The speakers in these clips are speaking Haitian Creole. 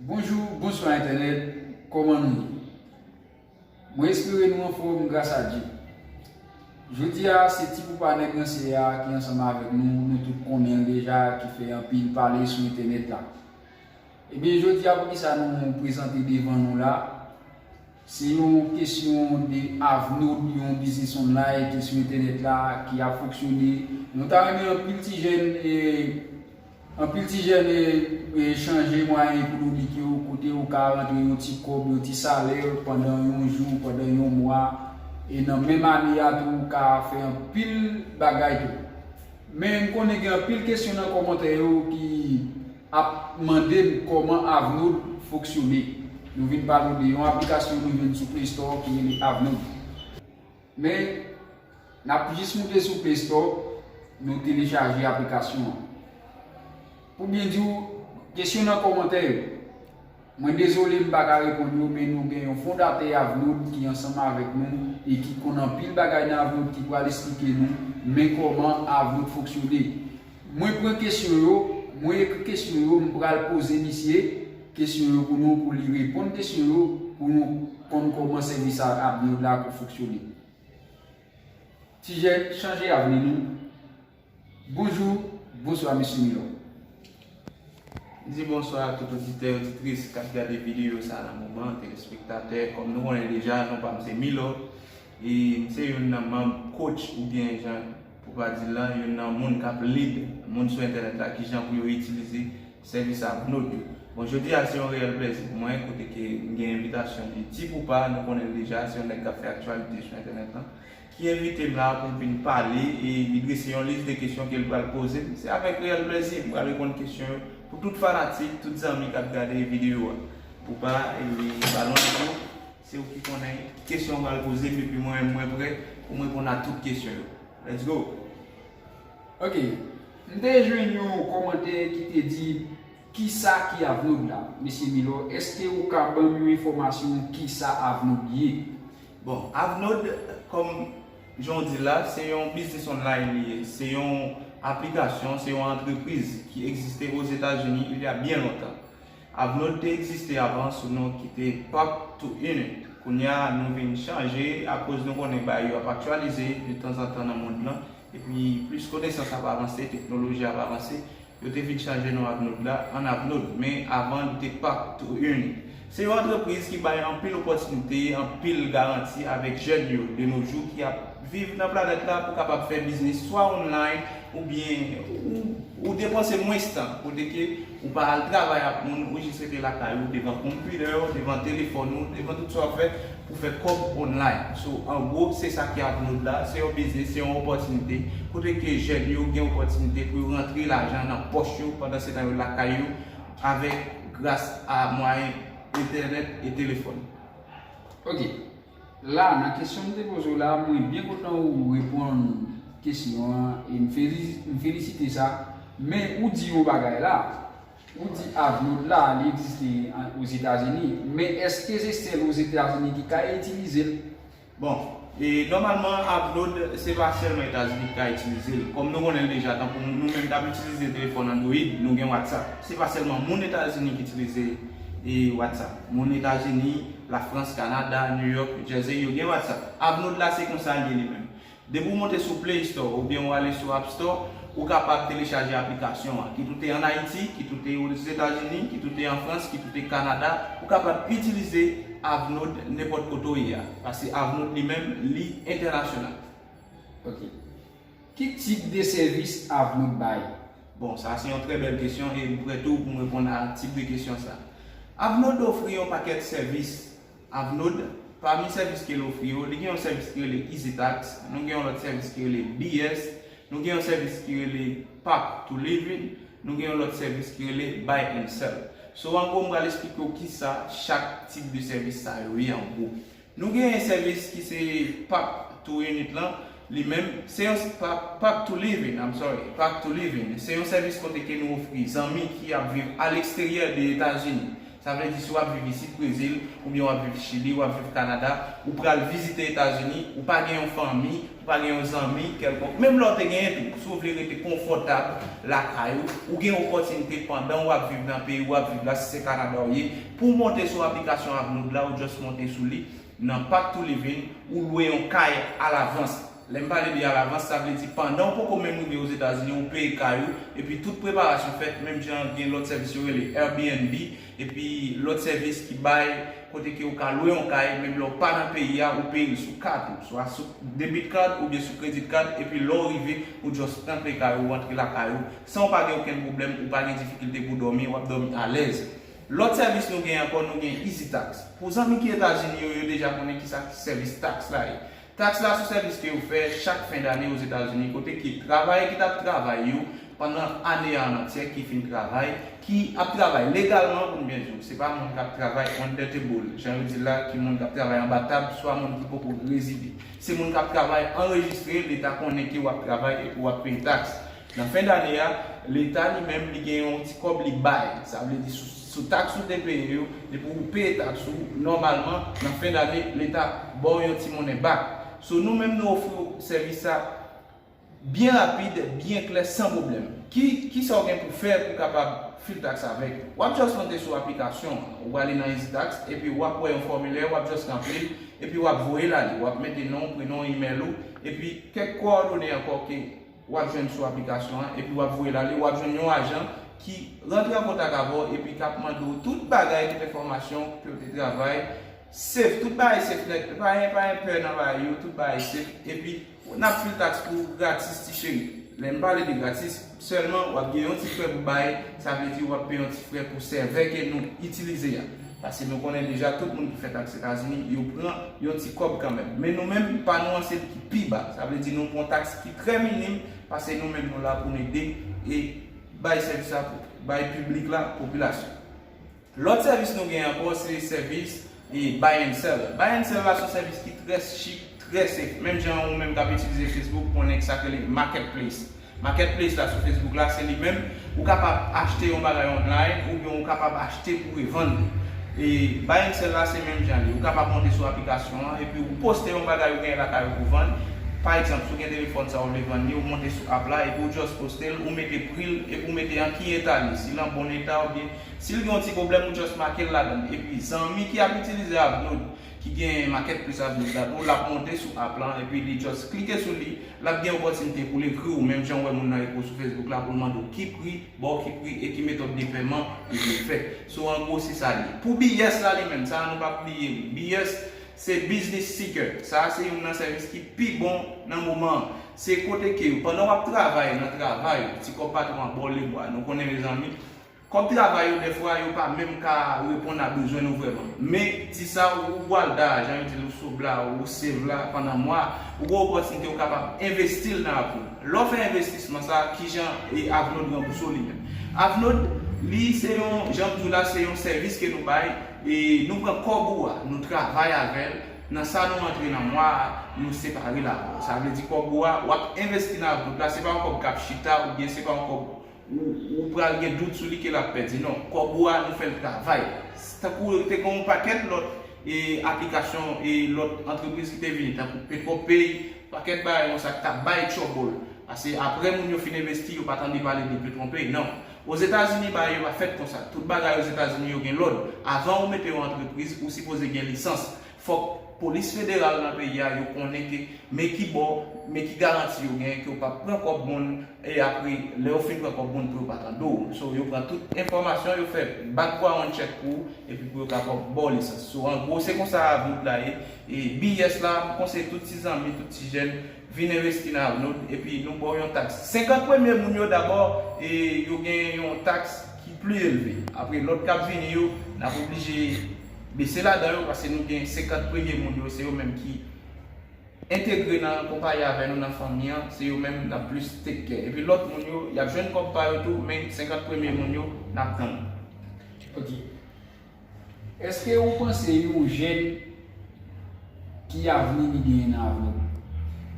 Bonjou bonswa entènèt kòman nou ye mwen espere nou anfòm gras a Dye jodi a se ti poupa nèg ranse a ki ansanm avèk nou nou tout konnen l deja ki fè anpil pale sou entènèt la ebyen jodi a poukisa nou prezante devan nou la Se yon kesyon de Avnaud, yon biznis online ki sou entènèt la, ki ap fonksyone. Nou ta renmen anpil ti jèn anpil ti jèn chanje mwayen ekonomik yo, kote ou ka rantre yon ti kòb, yon ti salè pandan yon jou, pandan yon mwa e nan menm ane a tou ou ka fè anpil bagay tou. Men m konnen gen anpil kesyon nan kòmantè yo ki ap mande m kòman Avnode foksyone. Nou vin pale w de yon aplikasyon nou jwenn sou Play Store ki rele Avnode. Men, n ap jis moute sou Play Store, nou telechaje aplikasyon an. Pou byen di w, kesyon nan kòmantè yo. Mwen dezole m pa ka reponn yo men nou gen yon fondatè Avnod ki ansanm avèk nou e ki konn anpil bagay nan Avnod ki pral esplike nou men kòman Avnod fonksyone. Mwen pran kesyon yo, mwen ekri kesyon yo m pral poze misye kesyon yo pou nou pou li reponn kesyon yo pou nou konn kòman sèvis Avnod la fonksyone. Ti jèn, chanje avni nou! Bonjou, bonswa mesye m yo. M di bonswa a tout oditè, oditris kap gade videyo sa nan moman, telespektatè, kòm nou konnen deja non pa m se Milo e m se youn nan manb coach ou byen jan pou pa di lan youn nan moun kap lead moun sou entènèt la kijan pou yo itilize sèvis Avnod yo. Bon jodi a se yon reyèl plèzi pou mwen kote ke m gen envitasyon de Tipoupa nou konnen l deja se yon nèg kap fè aktyalite sou entènèt lan ki envite m la pou m vin pale e li drese yon lis de kesyon ke l pral poze m, se avèk reyèl plezi m pral reponn kesyon yo pou tout fanatik, tout zanmi k ap gade videyo a. Poupa e Balon Nico, se ou ki konnen kesyon ou pral poze m epi mwen menm mwen prè pou m reponn a tout kesyon yo. Let's go! Ok, m te jwenn yon kòmantè ki te di kisa ki Avnod la? Mesye Milor, eske ou ka ban m yon enfòmasyon kisa Avnod ye? Bon, Avnod, kòm jan w di l la, se yon biznis online li ye. Se yon aplikasyon, se yon antrepriz ki egziste Ozetazini il y a byen lontan. Avnod te egziste avan sou non ki te Pop to Unit. Kounye a, nou vin chanje akoz nou konnen bagay yo ap aktyalize de tanzantan nan mond lan. Epi, plis konesans ap avanse, teknoloji ap avanse. Yo te vit chanje non Abnode la an Abnode, men avan li te Park To Eun. Se yon antrepriz ki bay anpil opòtinite, anpil garanti avèk jèn yo de no jou ki ap viv nan planèt la pou kapab fè biznis swa online oubyen ou depanse mwens tan kote ke ou pa al travay ak moun ou jis rete lakay ou devan konpidè ou, devan telefòn ou, devan tout sa w ap fè. pou fè kòb online. So, an gwo, se sa ki ak mode la, se yon biznis, se yon opòtinite, kote ke jèn yo gen opòtinite pou yo rantre lajan nan pòch yo pandan se tan yo lakay yo avèk gras a mwayen entènèt e telefòn. Ok. La, nan kesyon m te poze w la, mwen byen kontan ou reponn kesyon an e m felisite sa. Men, ou di yon bagay la. Ou di avlod la li egziste ozetazini men eske se sel ozetazini ki ka itilizel? Bon e nòmalman avlod se pa sèlman etazini ki ka itilizel kòm nou konnenl deja tankou nou menm kap itilize telefòn android nou gen whatsapp se pa sèlman moun etazini ki itilize e whatsapp moun etazini lafrans kanada new york new jersey yo gen whatsapp avlod la se konsa liye li menm Depi w monte sou Play Store oubyen w ale sou App Store, ou kapab telechaje aplikasyon an. Kit ou te an Ayiti, kit ou te Ozetazini, kit ou te an Frans, kit ou te Kanada, ou kapab itilize Avnode nenpòt kote w ye a. Paske Avnode li menm, li entènasyonal. Ok. Ki tip de sèvis Avnode bay? Bon, sa se yon trè bèl kesyon e m prè tou pou m reponn a tip de kesyon sa. Avnode ofri yon pakèt sèvis. Avnod, Pami sèvis ke l ofri yo, li gen yon sèvis ki rele EasyTax, nou gen yon lòt sèvis ki rele BS, nou gen yon sèvis ki rele Path to Living, nou gen yon lòt sèvis ki rele Buy and Sell. So an gwo m pral esplike w kisa chak tip de sèvis sa yo ye an gwo. Nou gen sèvis ki se Path to Unit lan, li menm, se yon, Path to Living, I'm sorry, Path to Living, se yon sèvis kote ke nou ofri zanmi ki ap viv a leksteryè de Etazini, Sa vle di si w ap viv isit Brezil, oubyen w ap viv Chili, w ap viv Kanada, ou pral vizite Etazini, ou pa gen yon fanmi, ou pa gen yon zanmi kèlkonk, menm lè w te genyen tou, si w vle rete konfòtab lakay ou, ou gen opòtinite pandan w ap viv nan peyi w ap viv la, si se Kanada ou ye, pou w monte sou aplikasyon Avlod la, ou just monte sou li, nan Path to Living, ou lwe yon kay alavans. Lè m pale de alavans, sa vle di pandan ou poko menm rive Ozetazini ou peye kay ou epi tout preparasyon fèt menm jan gen lòt sèvis yo rele Airbnb epi lòt sèvis ki bay kote ke ou ka lwe yon kay menm lè ou pa nan peyi a ou peye l sou kat ou swa sou debit card oubyen sou credit card epi lè ou rive ou just rantre kay ou rantre lakay ou san ou pa gen okenn pwoblèm ou pa gen difikilte pou dòmi wap dòmi alèz. Lòt sèvis nou gen ankò nou gen EasyTax pou zanmi ki Etazini yo yo deja konnen kisa sèvis tax la ye. Taks la sou sèvis ke yo fè chak fen dane Ozetazini kote ke travayè ki tap travay yo pandan ane a an antyè ki fin travay, ki ap travay legalman pou m byen di w, se pa moun kap travay under table jan yo di l la ki moun kap travay anba tab swa moun ki poko rezide. Se moun kap travay anrejistre, leta konnen ke wap travay epi wap peye taks. Nan fen dane a, Leta li menm li gen yon ti kòb li bay. Sa vle di sou taks ou te peye yo, depi ou peye taks ou, nòmalman nan fen dane Leta ba w yon ti monnen bak. So nou menm nou ofri w sèvis sa byen rapid, byen klè, san pwoblèm. Ki ki sa w gen pou w fè pou w kapab fil taks avèk nou? W ap just monte sou aplikasyon an. Ou prale nan EasyTax epi w ap wè yon fòmilè, w ap just ranpli l epi w ap voye l ale. W ap mete non w, prenon w, email ou epi kèk kowòdone ankò ke. Ou ap jwenn sou aplikasyon an epi wap voye l ale, wap jwenn yon ajan ki rantre an kontak avè w epi kap mande w tout bagay, tout enfòmasyon w, kote w te travay, safe, tout bagay safe nèt, pa gen pa gen pè nan bagay yo, tout bagay safe, epi nap fil taks pou w gratis ti cheri. Lè m pale de gratis, sèlman wap gen yon ti frè pou bay, sa vle di wap peye yon ti frè pou sèvè ke nou itilize a. Paske nou konnen deja tout moun ki fèt ak Etazini yo pran yon ti kòb kanmenm. Men nou menm, pa nou an se li ki pi ba. Sa vle di nou pran taks ki trè minim paske nou menm nou la pou n ede e bay sèvis la pou bay piblik la, popilasyon. Lòt sèvis nou gen ankò se sèvis e buy and sell. Buy and sell la son sèvis ki trè chik, trè senp. Menm jan ou menm k ap itilize Facebook konnen sa k rele marketplace. Marketplace la sou Facebook la se li menm, ou kapab achte yon bagay online oubyen ou kapab achte pou revann li. E Buy and Sell la se menm jan li, ou kapab monte sou aplikasyon an epi ou poste yon bagay ou genyen lakay ou pou vann, pa egzanp si w gen telefòn sa ou vle vann li ou monte sou app la epi ou just poste l ou mete pri l epi ou mete an ki eta li, si l an bon eta oubyen si l gen yon ti pwoblèm ou just make l ladan l epi zanmi ki ap itilize a ap vle w ki gen Market Plus Avenue la tou, lap monte sou app lan epi li just klike sou li, lap gen opòtinite poul ekri w menm jan ou wè moun nan ekri w sou Facebook la poul mande w ki pri, ba w ki pri e ki metòd de pèman ou vle fè. So an gwo se sa li ye. Pou BS la li menm, sa a nou pap bliye li. BS se Business Seeker. Sa a se youn nan sèvis ki pi bon nan moman an. Se kote ke pandan wap travay nan travay ou, ti kòb patwon an ba w lemwa. Nou konnen mezanmi. Kòb travay yo dèfwa yo pa menm ka reponn a bezwen nou vrèman. Men, ti sa ou pwal da a, jan yo di l ou sob la, ou save la, pandan mwa a, ou gen opòtinite ou kapab envesti l nan Avnod. Lè w fè envestisman sa a, kijan Avnod ranbouse w li menm? Avnod, li se yon, jan m di w la, se yon sèvis ke nou bay, e nou pran kòb ou a, nou travay avè l, nan sa nou antre nan mwa a, nou separe l avè w. Sa vle di kòb ou a, w ap envesti nan Avnod la, se pa yon kòb k ap chita oubyen se pa yon kòb. Ou pral gen dout sou li ke lap pèdi non. Kòb ou a nou fèl travay. Tankou te gen yon pakèt lòt e aplikasyon e lòt antrepriz ki te vini tankou Petròpay, pakèt bagay konsa ki tap bay trouble. Pase aprè moun yo fin envesti yo pa tande pale de Petronpay non. Ozetazini bagay yo pa fèt konsa. Tout bagay Ozetazini yo gen lòd. Avan ou mete yon antrepriz ou sipoze gen lisans. Fòk polis federal nan peyi a yo konnen ke men ki bo, men ki garanti yo gen ke yo pap pran kòb moun e apre lè yo fin pran kòb moun pou yo pa tande w. So yo pran tout enfòmasyon, yo fè background check pou ou epi pou yo kapab ba w lisans. So an gwo se konsa Avnod la ye. E BIS la, m konseye tout ti zanmi, tout ti jèn vin envesti nan Avnod epi nou ba w yon taks. 50 premye moun yo dabò e yo gen yon taks ki pli elve. Apre lòt kap vini yo, nap oblije. bese ladan yo paske nou gen 50 premye moun yo se yo menm ki entegre nan konpayi avè nou nan fanmi an se yo menm nap plis take care epi lòt moun yo yap jwenn kòb pa yo tou men 50 premye moun yo nap tann. Ok. Eske ou panse yon jèn. Ki avni li genyen nan avni l?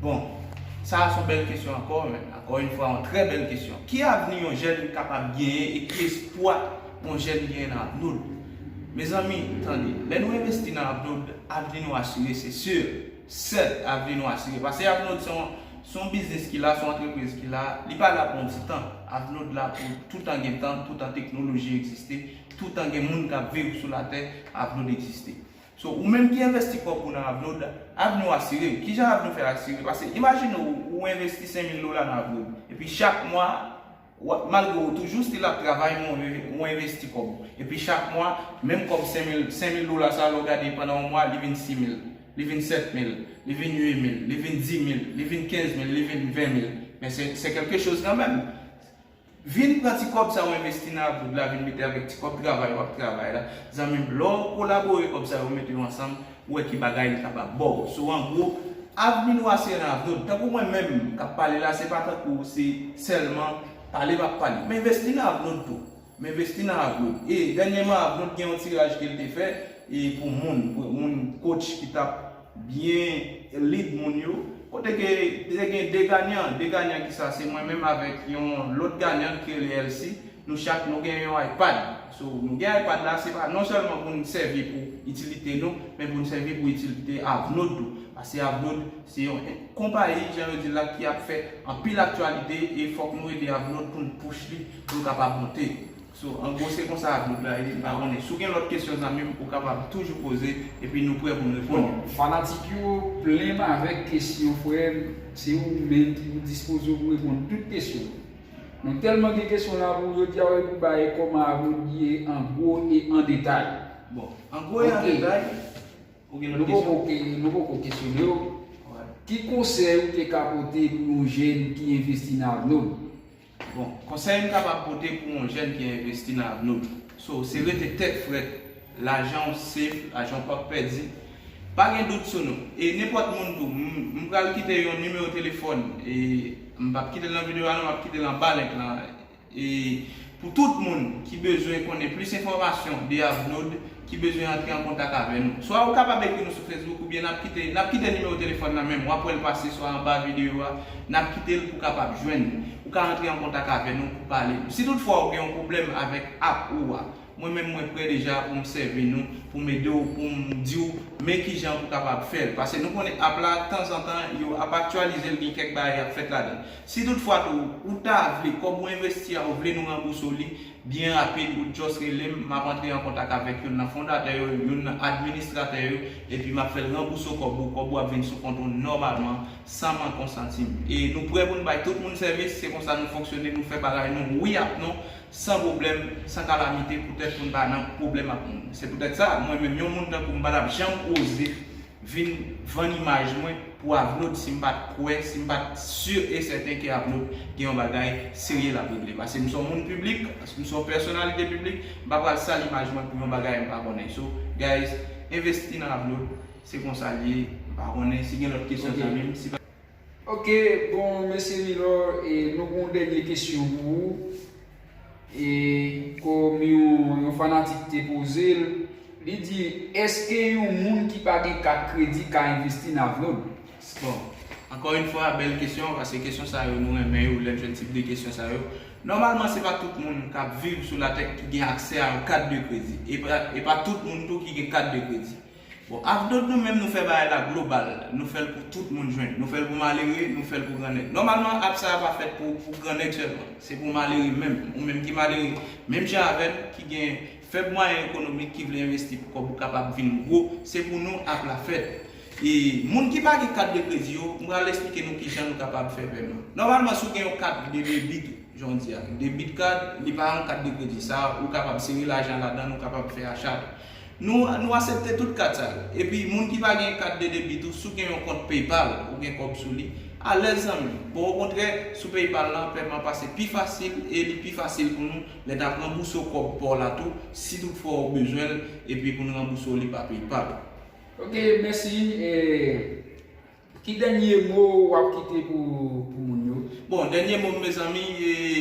Bon, sa a son bèl kesyon ankò, ankò yon fwa yon trè bèl kesyon. Ki avni yon jèn kapab genyen e ki espwa yon jèn genyen nan avni l? Mezanmi, tande, lè nou envesti nan avni w, avni nou asire se sur, sèt, avni nou asire. Pase avni w se yon, se yon biznis ki la, se yon antrepriz ki la, li pa la pou yon ti tan. Avni w la pou toutan gen tan, toutan teknoloji egziste, toutan gen moun k ap viv sou latè, avni w egziste. So ou menm ki envesti kòb ou nan Avnod, avni w asire. Kijan avni w fè asire? Pase imajine w ou envesti 5000 dola nan Avnod. Epi chak mwa, malgre ou toujou stil ap travay men ou envesti kòb ou. Epi chak mwa, menm kòb 5000, 5000 dola sa lè w gade pandan yon mwa li vin 6000, li vin 7000, li vin 8000, li vin 10000, li vin 15000, li vin 20000. Men se kèlke choz kanmenm. Vin pran ti kòb sa ou envesti nan Aboud la vin mete avèk ti kòb travay wap travay la zanmim lè'w kolabore kòb sa yo mete yo ansanm ou wè ki bagay li kapab baw so an gwo avni nou a se nan Aboud tankou mwen menm kap pale la se pa tankou se sèlman pale map pale m envesti nan Aboud tou m envesti nan Aboud e dènyeman Aboud gen yon tiraj kel te fè e pou moun moun kotch ki tap Byen lead moun yo. Kote ke te gen 2 ganyan. 2 ganyan ki sa? Se mwen menm avèk yon lòt ganyan ki rele Elsi. Nou chak nou gen yon iPad. So nou gen iPad la se pa non sèlman pou n sèvi pou itilite nou, men pou n sèvi pou itilite Avnod tou. Pase Avnod se yon konpayi jan yo di l la ki ap fè anpil aktyalite e fòk nou ede Avnod pou n push li pou l kapab monte. So an gwo se konsa apwoch la ye, m pa konnen. Si w gen lòt kesyon zanmi m, ou kapab toujou poze epi nou prè pou n reponn yo. Fanatik yo plen m avèk kesyon frè m, se ou menm ki pou dispoze w pou reponn tout kesyon. Nou tèlman gen kesyon la pou jodi a wè pou bay kòman apwoch li ye an gwo e an detay. Bon, an gwo e an detay, ou gen lòt kesyon? Ok, nou poko kesyone w. Ki konsèy ou te ka pote pou yon jèn ki envesti nan avni w? Bon, konsèy m kapab pote pou yon jèn ki envesti nan avni w, so, se rete tèt frèt, lajan w safe, lajan w pap pèdi, pa gen dout sou nou. E nenpòt moun tou, m pral kite yon nimewo telefòn, e m pap kite l nan videyo a non, m ap kite l anba link lan, e pou tout moun ki bezwen konnen plis enfòmasyon de avni w, ki bezwen antre an kontak avè nou. Swa ou kapab ekri nou sou Facebook oubyen nap kite nap kite nimewo telefòn nan menm wap wèl pase swa anba videyo a nap kitel pou kapab jwenn nou. Ou ka antre an kontak avè nou pou pale nou. Si tout fwa ou gen yon pwoblèm avèk app ou a, mwen menm mwen prè deja poum sèvi nou, poum ede w, poum diw men kijan pou kapab fèl. Pase nou konnen app la tanzantan yo ap aktyalizel gen kèk bagay kap fèt ladann. Si tout fwa tou ou ta vle kòb ou envesti a ou vle nou ranbouse w li, Byen rapid, ou just rele m, m ap antre an kontak avèk youn nan fondatè yo, youn nan administratè yo, epi m ap fè l ranbouse w kòb ou, kòb ou ap vin sou kont ou nòmalman, san mank on santim. E nou prè pou n bay tout moun sèvis, se konsa nou fonksyone, nou fè bagay nou wi ak non, san pwoblèm, san kalamite, poutèt pou n pa nan pwoblèm ak moun. Se poutèt sa, mwen menm, yon moun tankou m pa t ap janm oze. vin vann imaj mwen pou Avlod si m pa t kwè, si m pa t si e sèten ke Avlod gen yon bagay serye l ap regle. Pase m se yon moun piblik, pase m se yon pèsonalite piblik, m pa pral sal imaj mwen pou yon bagay m pa konnen. So, guys, envesti nan Avlod, se konsa l ye, m pa konnen si gen lòt kesyon zanmi m. Ok bon Mesye Milor e nou gon dènye kesyon pou ou e kòm yon fanatik te poze l li di eske yon moun ki pa gen kat kredi ka envesti nan Vlod? Bon ankò yn fwa bèl kesyon paske kesyon sa yo nou renmen yo lè n fè tip de kesyon sa yo nòmalman se pa tout moun k ap viv sou latè ki gen aksè a yon kat de kredi e pa tout moun tou ki gen kat de kredi Bon avk dot nou menm nou fè bagay la global, nou fèl pou tout moun jwenn, nou fèl pou malere, nou fèl pou gran nèg. Nòmalman app sa pa fèt pou pou gran nèg sèlman, se pou malere menm, ou menm ki malere menm jan avèm ki gen fèb mwayen ekonomik ki vle envesti pou kòb ou kapab vin gwo, se pou nou app la fèt. E moun ki pa gen kat de kredi yo, m pral esplike nou kijan nou kapab fè pèman. Nòmalman si w gen yon kat de debit ou, jan w di a, debit card, li pa yon kat de kredi, sa ou kapab sere lajan ladann ou kapab fè acha. Nou asepte tout kat sa yo. Epi moun ki pa gen kat de debit ou si w gen yon kont PayPal ou gen kòb sou li, alèz zanmim. Bon okontrè sou PayPal lan pèman pase pi fasil e li pi fasil pou nou lè nap ranbouse w kòb pa w la tou si tout fwa ou bezwen l epi pou n ranbouse w li pa PayPal. Ok mèsi e. Ki dènye mo wap kite pou moun yo? Bon, dènye mo m mezanmi,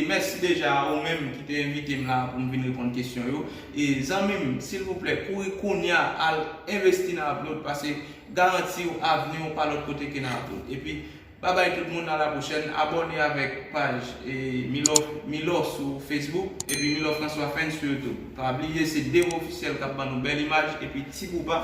mèsi deja a ou menm ki te envite m la a pou m vin reponn kesyon yo. E zanmi m, silvouplè, kouri kounya al envesti nan Upload pase garanti w avni w pa lòt kote ke nan Upload. Epi, babay tout moun a la pwochèn, abòne avèk paj Milor sou Facebook epi Milor François Fans sou YouTube. Pa bliye se Dero Officiel kap ban nou bèl imaj epi Ti Bouba